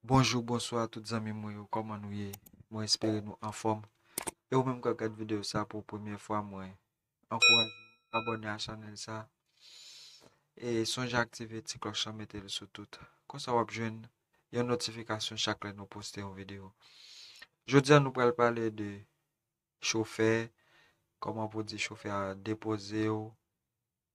Bonjou, bonswa tout zanmi mwen yo, kòman nou ye? Mwen espere nou anfòm. E ou menm kap gad videyo sa pou premye fwa mwen ankouraje ou abòne a chanèl sa. E sonje aktive ti klòch lan mete l sou tout. Konsa wap jwenn yon notifikasyon chak lè nou poste yon videyo. Jodi an nou pral pale de chofè, kòman pou di chofè a depoze ou,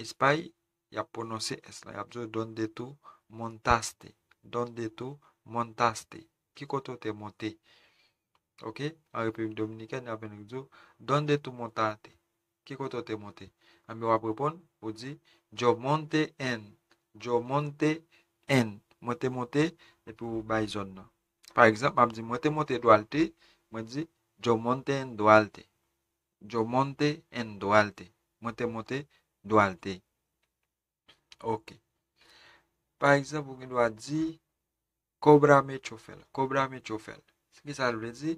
Espay, y ap pwononse s lan, y ap di w Dónde tú montaste? Dónde tú montaste? Ki kote w te monte? Ok, an Repiblik Dominikèn, y ap vin di w Dónde tú montaste? Ki kote w te monte? Enben, w ap reponn, ou di Yo monté en, yo monté en, mwen te monte, epi w bay zòn nan. Pa egzanp, m ap di, mwen te monte Duarte, mwen di Yo monté en Duarte. Yo monte en Duarte. Mwen te monte Duarte. Ok. Pa egzanp, ou gen dwa di Kóbrame chofel. Kóbrame chofel. Se ki sa l vle di?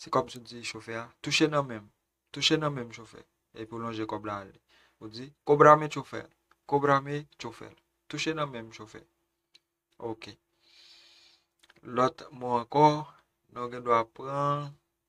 Se kòm si w di chofè a, touche nan men m. Touche nan men m chofè. Epi w lonje kòb la ale. Ou di Kóbrame chofel. Kóbrame chofel. Touche nan men m chofè. Ok. Lòt mo ankò, nou gen dwa pran.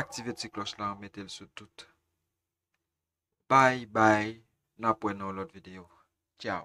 Aktive ti kloch lan metel sou tout. Bye bye nap wè nan yon lot video. Ciao.